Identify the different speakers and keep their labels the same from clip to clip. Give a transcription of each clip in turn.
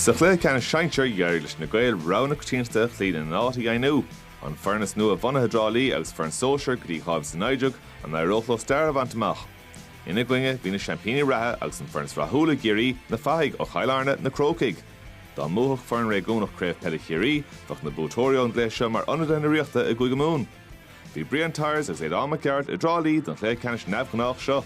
Speaker 1: Sa chluiche ceannais sinsear, d'éirigh leis na Gaeil rogha na coitiantachta a chloí lena n-áit a dheimhniú. An foireann is nua-bhunaithe i dTrá Lí agus foireann sóisir go dtí dhá mhíle is a naoi déag, an éireodh leo stair a bhaint amach? Ina gcoinne, bhí na seaimpíní reatha agus an foireann is rathúla i gCiarraí, Na Fathaigh ó Chill Airne, Na Crócaigh. Dá mbuafadh foireann réigiúnach Craobh Peile Chiarraí, bheadh na buaiteoirí ón gcluiche seo mar ionadaithe na Ríochta i gCúige Mumhan. Bhí Brian Tyers agus Aodhán Mac Gearailt i dTrá Lí don chluiche ceannais neamhghnách seo.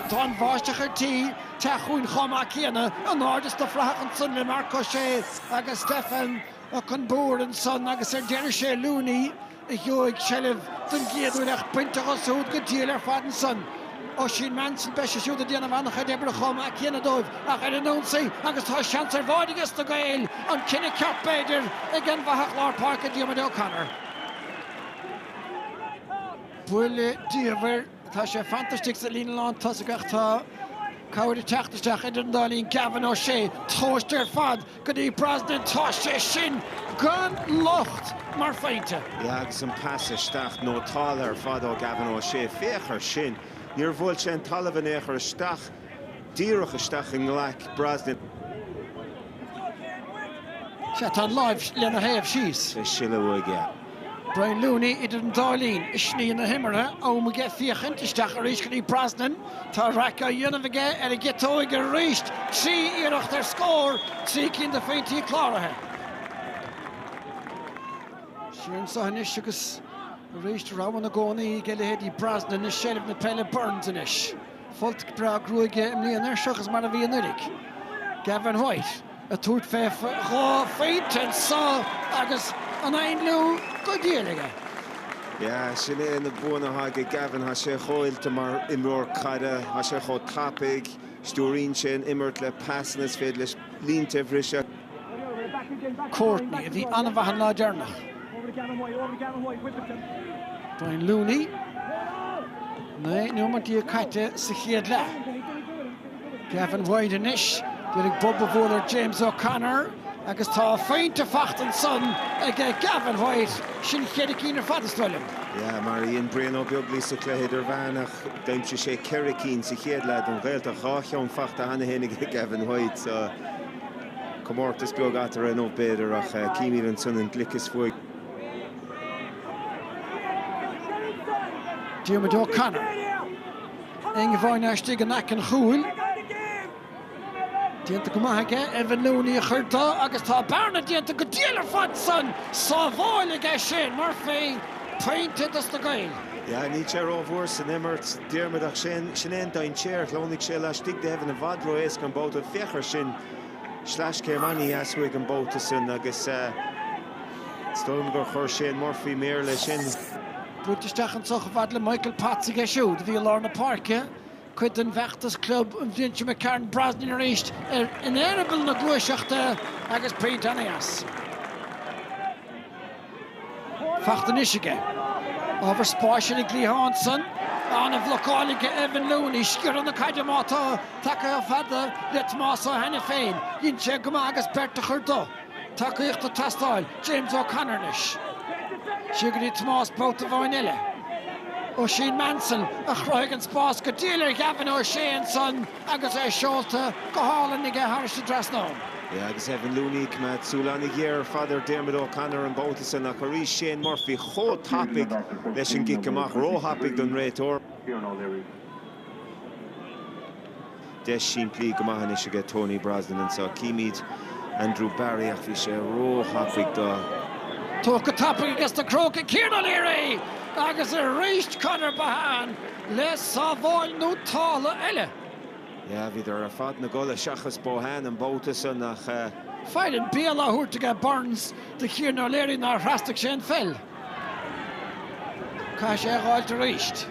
Speaker 1: Tá
Speaker 2: an bháisteach ar tí teacht chugainn chomh maith céanna in airde sna frathacha ansan le Mark O'Shea agus Stefan Okunbor ansan agus ar deireadh is é Looney a gheobhaidh seilbh den gcéad uair ach bainte dhó súd go diail ar fad ansan. Oisín Maunsell, beidh sé siúd ag déanamh an-chuid oibre chomh maith céanna dóibh ach ar an ionsaí agus tá seans ar bháide ages na Gaeil, an cinneadh ceart b'fhéidir ag an bhfathach lár páirce Diarmuid O'Connor. Buille diamhair. Tá sé fantastic sa líne lán tosaigh ach tá cabhair ag teacht isteach idir an dá linn. Gavin O'Shea, tomhaiste ar fad go dtí Brosnan. Tá sé sin gan locht mar phointe. Yeah agus an
Speaker 3: pas isteach nótáltha ar fad ó Gavin O'Shea. Féach ar sin. Níor bhuail sé an talamh in aon chor isteach, díreach isteach i nglaic Brosnan.
Speaker 2: Sea, tá an láimh lena thaobh síos. Is é ag sileadh uaidh,
Speaker 3: yeah. Brian
Speaker 2: Looney idir an dá linn i sní na himeartha, am aige féachaint isteach arís go dtí Brosnan. Tá raic á dhéanamh aige ar an gciotóig arís. Trí iarracht ar scór, trí cinn de phointí cláraithe. Siar anseo anois agus arís roghanna i gcónaí ag a leithéidí Brosnan i seilbh na peile. Burns anois. Folt breá gruaige i mbliana air, seachas mar a bhí anuraidh. Gavin White ag tabhairt fé dhá phointe anseo agus an ainliú go diail aige.
Speaker 3: Yeah, sin é na buanna atá aige Gavin. Tá sé chomh oilte mar imreoir caide, tá sé chomh tapaidh, stiúraíonn sé an imirt le pasanna is féidir leis línte a bhriseadh.
Speaker 2: Courtney, a bhí an-mhaith an lá deireanach. Brian Looney, naoi nóiméad déag caite sa chéad leath. Gavin White anois, d'iarraidh bob a bhualadh ar James O'Connor agus tá dhá phointe faighte ansan ag Gavin White, sin ceithre cinn ar fad is dóigh liom. Yeah, mar a
Speaker 3: dhein Brian Ó Beaglaoi sa chluiche idirmheánach, d'aimsigh sé ceithre cinn sa chéad leath don Ghaeltacht, dhá cheann faighte cheana féin ag Gavin White. Comórtas beag eatarthu inniu b'fhéidir, ach címid ansan an gliceas
Speaker 2: uaidh. Diarmuid O'Connor. Andrew Barry istigh in aice an chúil. Déanta go maith aige, Evan Looney a chur dó agus tá bearna déanta go diail ar fad san sábháil aige Shane Murphy, pointe dos na Gaeil. Yeah, níl sé
Speaker 3: ró-mhór san imirt. Diarmaid, ach sin é an dainséar a shleamhnaigh sé laistigh de Evan i bhfad ró-éasca an babhta. Féach air sin, sleaschéim an-dheas uaidh an babhta san agus is dóigh liom gur chuir Shane Murphy méar leis sin. Buailte
Speaker 2: isteach anseo chomh fada le Michael Potts aige siúd a bhí i lár na páirce, cuid den bhfeachtas club an bhliain sin, McCarron Brosnan arís in eireaball na gluaiseachta agus pointe an-dheas. faighte anois aige. Ábhar spáis ar an gcliathán san an-bhlocáil aige Evan Looney, sciorradh na caide má tá tagtha chomh fada le Tomás Ó hAiniféin. Dhein sé go maith agus beirt a chur de. Tacaíocht ag teastáil, James O'Connor anois. Siar go dtí Tomás babhta amháin eile. Oisín Maunsell a chruthaigh an spás go diail ar Gavin O'Shea ansan. agus é seolta go hálainn aige thairis an dtrasnán. Yeah, agus
Speaker 3: Evan Looney ag coimeád súil an-ghéar ar fad ar Diarmuid O'Connor an babhta san ach arís Shane Murphy chomh tapaidh leis an gcic amach, róthapaidh don réiteoir. Deis simplí go maith anois aige Tony Brosnan anso. Címid Andrew Barry ach bhí sé róthapaidh do. Tugtha go
Speaker 2: tapaidh aige sna Crócaigh Kieran O'Leary agus arís Conor Bohane. le sábháil nótálta eile. Yeah,
Speaker 3: bhíodar ar fad 'na gcodladh seachas Bohane, an babhta san, ach. Fearann Beal
Speaker 2: á thabhairt aige Burns do Kieran O'Leary nár thrasnaigh sé an pheil. Caithfidh sé a dh'fháilt arís.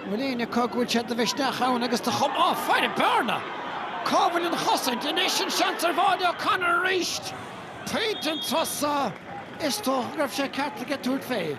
Speaker 2: An bhfuil éinne acu go bhfuil sé de mhisneach ann agus de chum. Á, faire bearna! Cá bhfuil an chosaint? Anois an seans ar bháide, O'Connor arís pointe an turas so. Is dócha go raibh sé ceart aige tabhairt fé.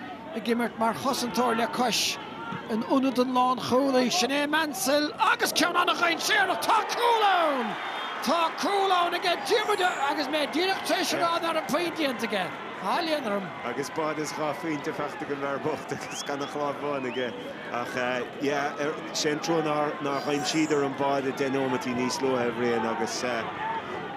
Speaker 2: Ag imirt mar chosantóir le cois in ionad an lánchúlaí, sin é Maunsell agus ceann an-dhainséarach, tá cúl ann! Tá cúl ann aige Diarmuid agus mé díreach tar éis a rá ná raibh puinn déanta aige á, léan orm. Agus báide is
Speaker 3: dhá phointe faighte ag an bhfear bocht agus gan ach lámh amháin aige ach, yeah, sé an trua nár aimsíodar an báide deich nóimeataí níos luaithe a Bhriain agus,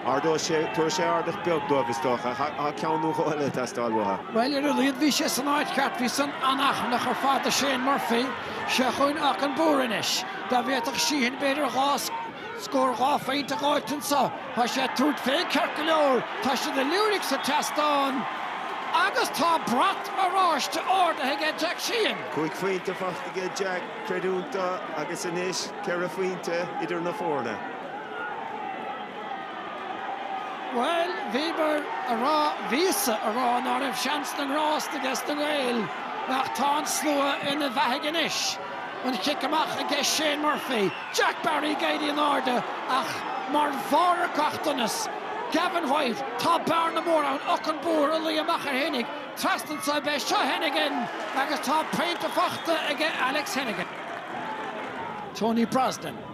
Speaker 3: Ardóidh sé, tabharfaidh sé ardach beag dóibh is dócha. Tá ceann nó dhó eile ag teastáil uathu. Bhuel, ar a laghad
Speaker 2: bhí sé san áit cheart. Bhí san an-achrannach ar fad do Shane Murphy. Sé chúinn Auchan Boole anois. Dá bhféadfadh Sheehan b'fhéidir dhá scór dhá phointe a dh'fháilt anso. Tá sé ag tabhairt fé ceart go leor. Tá siad ag liúirigh sa tseastán agus tá brat oráiste ardaithe aige Jack Sheehan. Cúig phointe faighte
Speaker 3: aige Jack, creidiúnta, agus anois ceithre phointe idir na foirne.
Speaker 2: Bhuel, bhíomar a rá, bhíos-sa a rá ná raibh seans na ngrást aiges na Gaeil, nach tá an slua ina bheathaigh anois. An chic amach i gceist Shane Murphy, Jack Barry ag éirí in airde ach mar bharr ar gach donas, Gavin White, tá bearna mór ann, Okunbor a luigh amach air, tháinig trasna anso, ab é seo Hennigan agus tá pointe faighte aige Alex Hennigan. Tony Brosnan.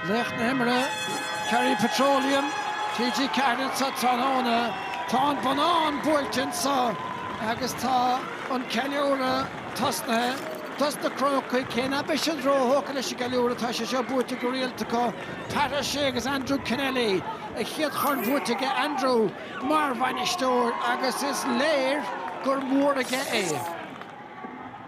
Speaker 2: Laoch na hImeartha, Kerry Petroleum, TG4 anseo tráthnóna. Tá an bonnán buailte anseo agus tá an ceiliúradh tosnaithe. Dos na Crócaigh, cé ná beidh siad róthógtha leis an gceiliúradh, tá sé seo buaite go rialta acu. Pat O'Shea agus Andrew Kennelly, a chéad chorn buaite aige Andrew mar bhainisteoir agus is léir gur mór aige é.